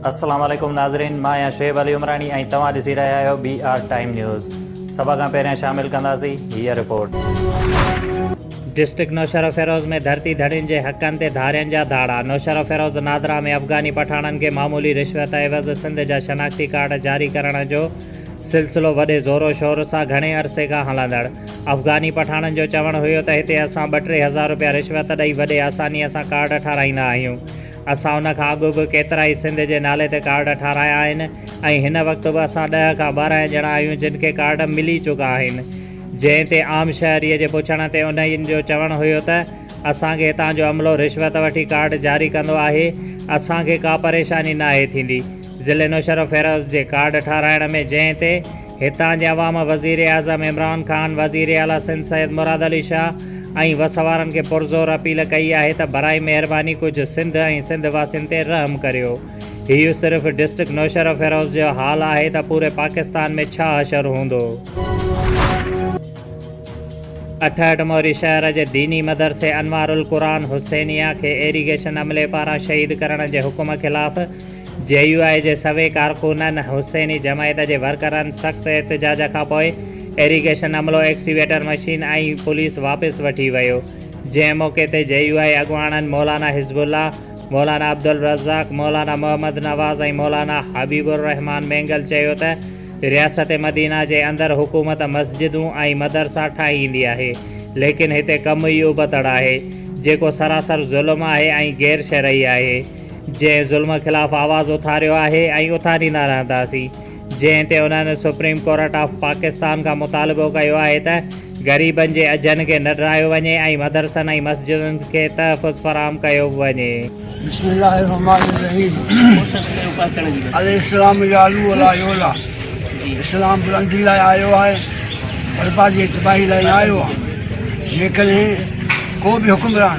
السلام عليڪم ناظرين مان آهيان شعيب علي عمراڻي ۽ توهان ڏسي رهيا آهيو بي آر ٽائيم نيوز سڀ کان پهريان شامل ڪنداسين هي رپورٽ ڊسٽرڪٽ نوشهرو فيروز ۾ ڌرتي ڌڻين جي حقن تي ڌارين جا ڌاڙا نوشهرو فيروز نادرا ۾ افغاني پٺاڻن کي معمولي رشوت عيوض سنڌ جا شناختي ڪارڊ جاري ڪرڻ جو سلسلو وڏي زور و شور سان گهڻي عرصي کان هلندڙ. افغاني پٺاڻن جو چوڻ هيو ته هتي اسان ٻه ٽي هزار روپيا رشوت ڏئي وڏي آسانيء سان ڪارڊ ٺاهرائيندا آهيون. اسان ان کان اڳ به ڪيترائي سنڌ جي نالي تي ڪارڊ ٺاهرايا آهن ۽ هن وقت به اسان ڏهه کان ٻارنهن ڄڻا آهيون جن کي ڪارڊ ملي چڪا آهن. جنهن تي عام شهريء جي پڇڻ تي انهين جو چوڻ هيو ته اسان کي هتان جو عملو رشوت وٺي ڪارڊ جاري ڪندو آهي، اسان کي ڪا پريشاني ناهي ٿيندي. ضلعي نوشهرو فيروز جي ڪارڊ ٺاهرائڻ ۾ جنهن تي هتان جي عوام وزيراعظم عمران خان، وزير اعليٰ سنڌ سيد مراد علي شاهه ۽ وس وارن کي پرزور اپيل ڪئي آهي ته براء مهرباني ڪجهه سنڌ ۽ سنڌ واسين تي رحم ڪريو. هيء صرف ڊسٽرڪٽ نوشهرو فيروز جو حال آهي ته پوري پاڪستان ۾ ڇا حشر هوندو؟ اٺهٺ موري شهر جي ديني مدرسي انوارالقرآن حسينيه کي ايريگيشن عملي پاران شهيد ڪرڻ جي حڪم خلاف جي يو آء جي سوين ڪارڪنن حسيني جماعت جي ورڪرن سخت احتجاج کانپوء ايريگيشن عملو، ايڪسيويٽر مشين ۽ پوليس واپس وٺي ويو، جنهن موقعي تي جي يو آء اڳواڻن مولانا حزب الله، مولانا عبدالرزاق، مولانا محمد نواز ۽ مولانا حبيب الرحمان مينگل چيو ته رياست مدينه جي اندر حڪومت مسجدون ۽ مدرسا ٺاهيندي آهي ليڪن هتي ڪم ئي ابتڙ آهي جيڪو سراسر ظلم آهي ۽ غير شرعي آهي. جنهن ظلم خلاف آواز اٿاريو آهي ۽ اٿاريندا رهنداسين جنهن تي انهن سپريم ڪورٽ آف پاڪستان کان مطالبو ڪيو آهي ته غريبن جي اجهن کي نه ڊرايو وڃي ۽ مدرسن ۽ مسجدن کي تحفظ فراهم ڪيو وڃي. بسم الله الرحمان الرحيم الاسلام يعلو ولا يعلى اسلام بلندي لاء آيو آهي بربادي ۽ تباهي لاء نه آيو آهي جيڪڏهن ڪو به حڪمران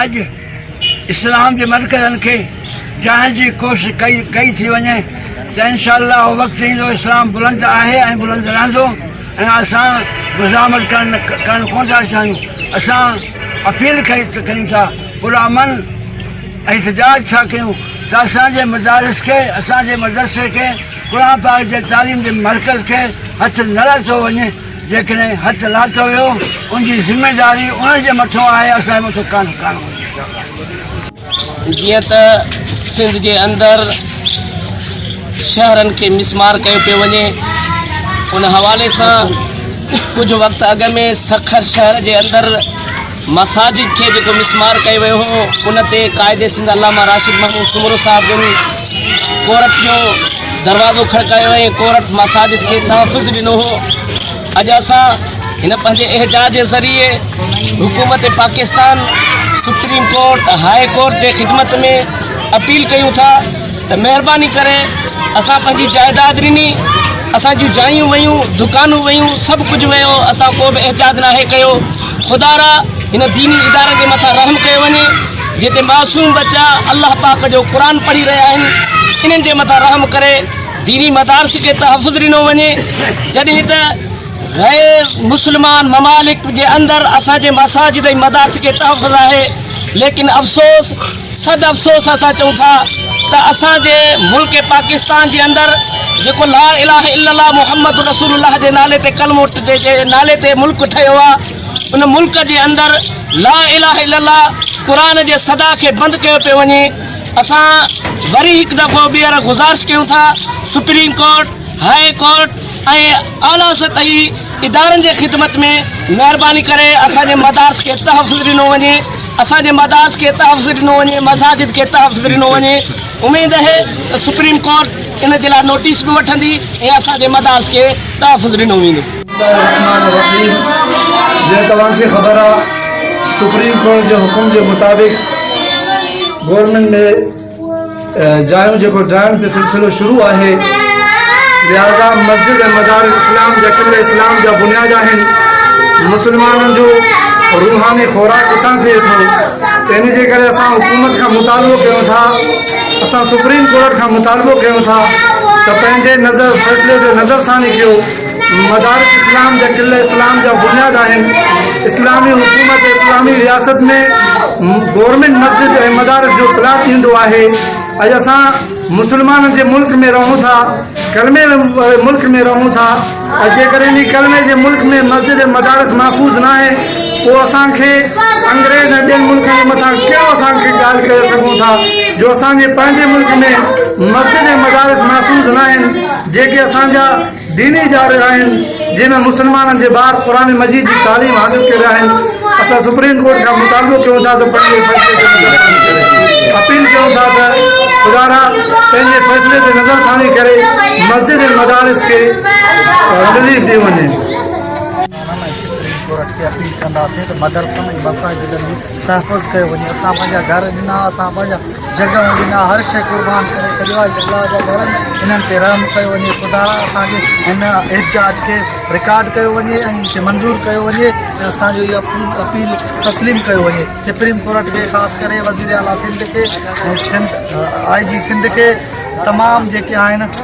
اڄ اسلام جي مرڪزن کي جهائڻ جي ڪوشش ڪئي ڪئي ٿي وڃي ته انشاء الله اهو وقت ايندو اسلام بلند آهي ۽ بلند رهندو ۽ اسان مزاحمت ڪرڻ ڪرڻ ڪونه ٿا چاهيون اسان اپيل ڪئي ڪريون ٿا پرامن احتجاج ٿا ڪريون ته اسان جي مدارس کي اسان جي مدرسي کي قرآن پاڪ جي تعليم جي مرڪز کي هٿ نه لاتو وڃي جيڪڏهن هٿ لاتو ويو ان جي ذميداري ان جي مٿو آهي اسان جي مٿو ڪانه ڪانه هوندي انشاءالله. جيئن ته سنڌ جي اندر شهرن کي مسمار ڪيو پيو وڃي ان حوالي سان ڪجهه وقت اڳ ۾ سکر شهر جي اندر مساجد کي جيڪو مسمار ڪيو ويو هو ان تي قائد سنڌ علامه راشد محمود سومرو صاحب جن ڪورٽ جو دروازو کڙڪايو ۽ ڪورٽ مساجد کي تحفظ ڏنو هو اڄ اسان هن پنهنجي احجاج جي ذريعي حڪومت Pakistan supreme court high court جي خدمت ۾ اپيل ڪيون ٿا ته مهرباني ڪري اسان پنهنجي جائداد ڏني اسان جون جايون ويون دڪانون ويون سڀ ڪجهه ويو اسان ڪو به احتياط ناهي ڪيو خدا را هن ديني ادارن جي مٿان رحم ڪيو وڃي جتي معصوم بچا الله پاڪ جو قرآن پڙهي رهيا آهن انهن جي مٿان رحم ڪري ديني مدارس کي تحفظ ڏنو وڃي جڏهن ته غير مسلمان ممالڪ جي اندر اسان جي مساجد ۽ مدارس کي تحفظ آهي ليڪن افسوس صد افسوس اسان چئون ٿا ته اسان جي ملڪ پاڪستان جي اندر جيڪو لا اله الا الله محمد رسول الله جي نالي تي ڪلمو جي نالي تي ملڪ ٺهيو آ ان ملڪ جي اندر لا اله الا الله قرآن جي صدا کي بند ڪيو پيو وڃي اسان وري هڪ دفعو ٻيهر گذارش ڪيون ٿا سپريم ڪورٽ هاء ڪورٽ ۽ اعليٰ سطحي ادارن جي خدمت ۾ مهرباني ڪري اسان جي مدارس کي تحفظ ڏنو وڃي اسان جي مدارس کي تحفظ ڏنو وڃي مساجد کي تحفظ ڏنو وڃي اميد اهي ته سپريم ڪورٽ ان جي لاء نوٽيس به وٺندي ۽ اسان جي مدارس کي تحفظ ڏنو ويندو. الرحمان الرحيم جيئن توهان کي خبر آ سپريم ڪورٽ جي حڪم جي مطابق گورنمينٽ ني جايون جيڪو ڊاهڻ جو سلسلو شروع آهي لهذا مسجد ۽ مدارس اسلام جا قبله اسلام جا بنياد آهن مسلمانن جو روحاني خوراڪ اتان ٿئي ٿو ته ان جي ڪري اسان حڪومت کان مطالبو ڪيون ٿا اسان سپريم ڪورٽ کان مطالبو ڪيون ٿا ته پنهنجي نظر فيصلي تي نظر ثاني ڪيو مدارس اسلام جا قلعه اسلام جا بنياد آهن. اسلامي حڪومت اسلامي رياست ۾ گورنمينٽ مسجد ۽ مدارس جو پلاٽ ڏيندو آهي. اڄ اسان مسلمانن جي ملڪ ۾ رهون ٿا، ڪلمي واري ملڪ ۾ رهون ٿا ۽ جيڪڏهن انهي ڪلمي جي ملڪ ۾ مسجد ۽ مدارس محفوظ ناهي پوء اسان کي انگريز ۽ ٻين ملڪن جي مٿان ڪهڙو اسان کي ڳالهه ڪري سگهون ٿا جو اسان جي پنهنجي ملڪ ۾ مسجد ۽ مدارس محفوظ ناهن جيڪي اسان جا ديني اداري آهن جنهن ۾ مسلمانن جي ٻار قرآن مجيد جي تعليم حاصل ڪري رهيا آهن اسان سپريم ڪورٽ کان مطالبو ڪيون ٿا ته پنهنجي فيصلي تي نظرثاني ڪري اپيل ڪيون ٿا ته خدارا پنهنجي فيصلي تي نظرثاني ڪري مسجد ۽ مدارس کي رليف ڏيو وڃي. تحفظ ڪيو وڃي اسان پنهنجا گهر ڏنا اسان پنهنجا جڳهون ڏنا هر شئي قربان ڪري ڇڏيو آهي الله جا گهر انهن تي رحم ڪيو وڃي خدا اسان جي هن احتجاج کي رڪارڊ ڪيو وڃي ۽ ان کي منظور ڪيو وڃي ۽ اسان جو اها اپيل تسليم ڪيو وڃي سپريم ڪورٽ کي خاص ڪري وزيراعليٰ سنڌ کي ۽ سنڌ آء جي سنڌ کي تمام جيڪي آهن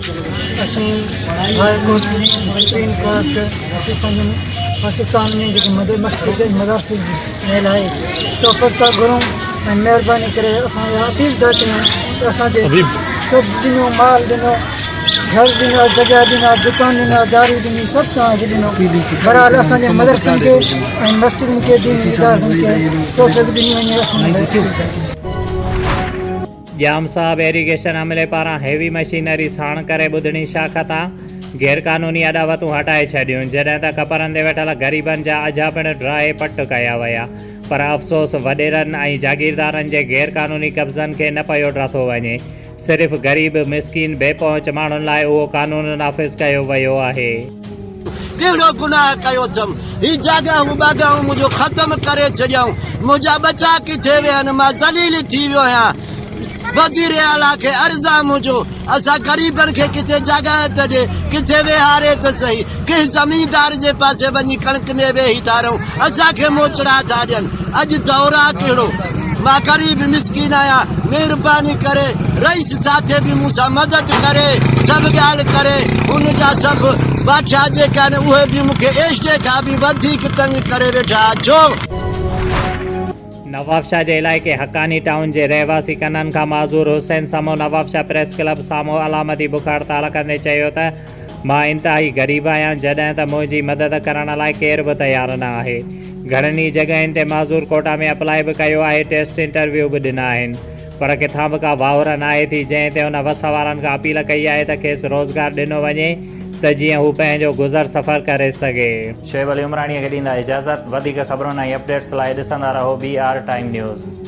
اسين هاء ڪورٽ سپريم ڪورٽ اسين پنهنجن پاڪستان ۾ جيڪي مد مسجد مدرسي ٺهيل آهي تحفظ ٿا گهرون ۽ مهرباني ڪري اسان اها اپيل ٿا ڪريون ته اسانجي سڀ ڏنو مال ڏنو گهر ڏنا جڳهه ڏنا دڪان ڏنا داري ڏني سڀ توهانجي ڏنو برحال اسانجي مدرسن کي ۽ مسجدن کي ديني ادارن کي تحفظ ڏني وڃي اسان ڄام صاحب ايريگيشن عملي پاران هيوي مشينري ساڻ ڪري ٻڌڻي شاخ تان غير قانوني اڏاوتون هٽائي ڇڏيون جڏهن ته ڪپرن تي ويٺل غريبن جا اجها پڻ ڊاهي پٽ ڪيا ويا پر افسوس وڏيرن ۽ جاگيردارن جي غير قانوني قبضن کي نه پيو ڊاٿو وڃي صرف غريب مسڪين بي پهچ ماڻهن لاء اهو قانون نافذ ڪيو ويو آهي. ڪهڙو گناهه ڪيو اٿم، هي جاڳائون ٻاڳائون منهنجو ختم ڪري ڇڏيائون، منهنجا ٻچا ڪٿي ويا آهن، مان ذليل ٿي ويو آهيان. وزير اعليٰ کي عرض آهي منهنجو، اسان غريبن کي ڪٿي جاڳائي ته ڏي، ڪٿي ويهاري ته سهي، ڪنهن زميندار جي پاسي وڃي ڪڻڪ ۾ ويهي ٿا رهون، اسان کي موچڙا ٿا ڏين. اڄ دور آ ڪهڙو مان غريب مسڪين آهيان مهرباني ڪري رئيس ساٿي به مون سان مدد ڪري سڀ ڳالهه ڪري هن جا سڀ بادشاهه جيڪي آهن اهي به مون کي ايشٽي کان به وڌيڪ تنگ ڪري ويٺا آهن ڇو نوابشاهه جي علائقي حقاني ٽائون جي رهواسي ڪنن کان معذور حسين سمون نوابشاهه پريس ڪلب سامهون علامتي بک هڙتال ڪندي چيو ته مان انتهائي غريب آهيان جڏهن ته منهنجي مدد ڪرڻ لاء ڪير به تيار نه آهي. گهڻن ئي جڳهين تي معذور ڪوٽا ۾ اپلائي به ڪيو آهي، ٽيسٽ انٽرويو به ڏنا آهن پر ڪٿان به ڪا واهر ناهي ٿي جنهن تي هن وس وارن کان اپيل ڪئي آهي ته کيس روزگار ڏنو وڃي ته جيئن هو پنهنجو گذر سفر ڪري سگهي. شعيب علي عمراڻيء کي ڏيندا اجازت. وڌيڪ خبرن ۽ اپڊيٽس لاء ڏسندا رهو بي آر ٽائيم نيوز.